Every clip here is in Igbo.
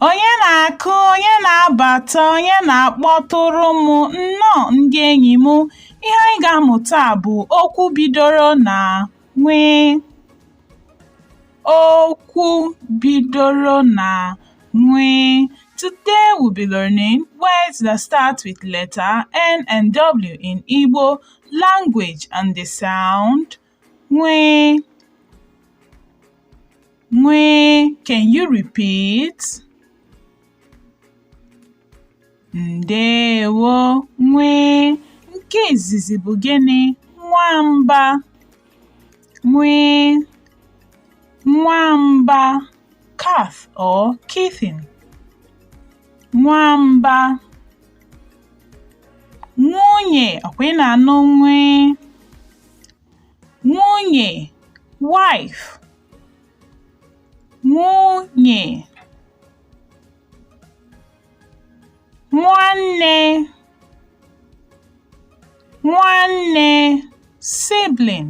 Onye na-akụ, onye na-abata, onye na-akpọtụrụ m nnọọ ndị enyi m. Ihe anyị ga-amụta bụ okwu bidoro na nwee. Okwu bidoro na nwee. Today we'll be learning words that start with letter N and W in Igbo language and the sound nwee. Nwee. Can you repeat? Ndewo nwee. Nke izizi bụ gịnị? Nwamba. Nwee. Nwamba, cat or kitten. Nwamba. Nwunye, ọkwa ị na-anụ nwee? Nwunye, wife. Nwunye. nwanne nwanne sibling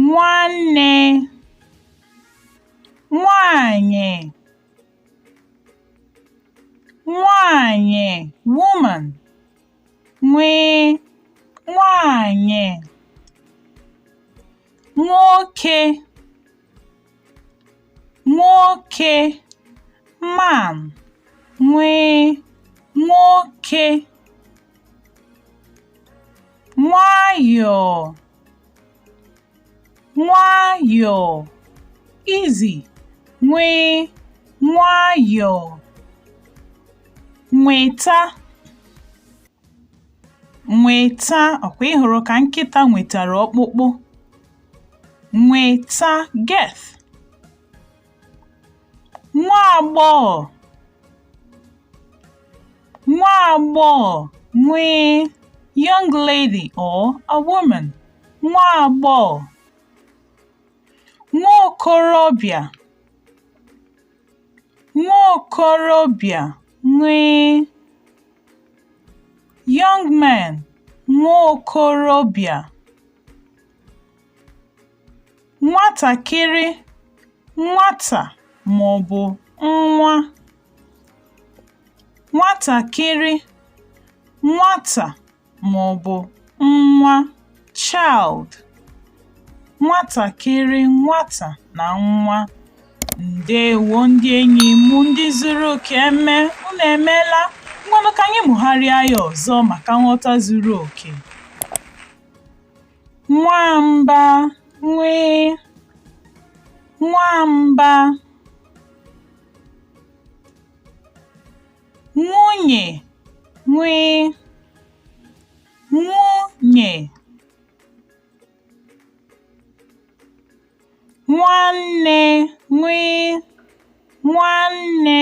nwanne nwanyị nwanyị woman nwee nwanyị nwoke nwoke man nwee nwoke nwayọọ nwayọọ easy nwee nwayọọ nweta nweta ọkwa ị hụrụ ka nkịta nwetara ọkpụkpụ nweta get nwa agbọghọ nwa agbọghọ nwee young lady or a woman nwa agbọghọ nwa okorobịa nwa okorobịa nwee young man nwa okorobịa nwatakịrị nwata maọbụ nwa nwatakịrị nwata maọbụ nwa child nwatakịrị nwata na nwa ndewo ndị enyi m ndị zuru oke eme unu emeela ngwanụ ka anyị mụgharịa ya ọzọ maka nghọta zuru oke nwamba nw nwamba nwunye nw nwunye nwanne nw nwanne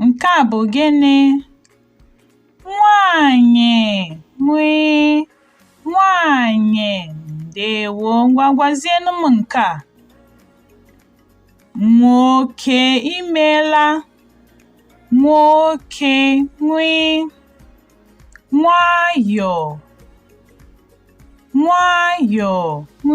Nke a bụ gịnị? Nwaanyị nw nwaanyị ndewo ngwa gwazienụ m nke a. Nwoke imela nwoke nw nwayọọ nwayọọ nw.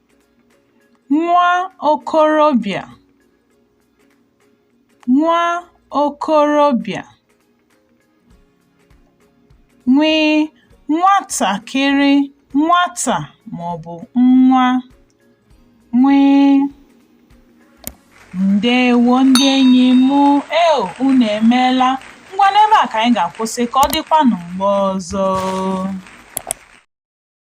nwa okorobịa nwa okorobịa nw nwatakịrị nwata maọbụ nwa nw ndewo ndị enyi m e unu emeela ngwa n'ebe a ka anyị ga-akwụsị ka ọ dịkwanụ mgbe ọzọ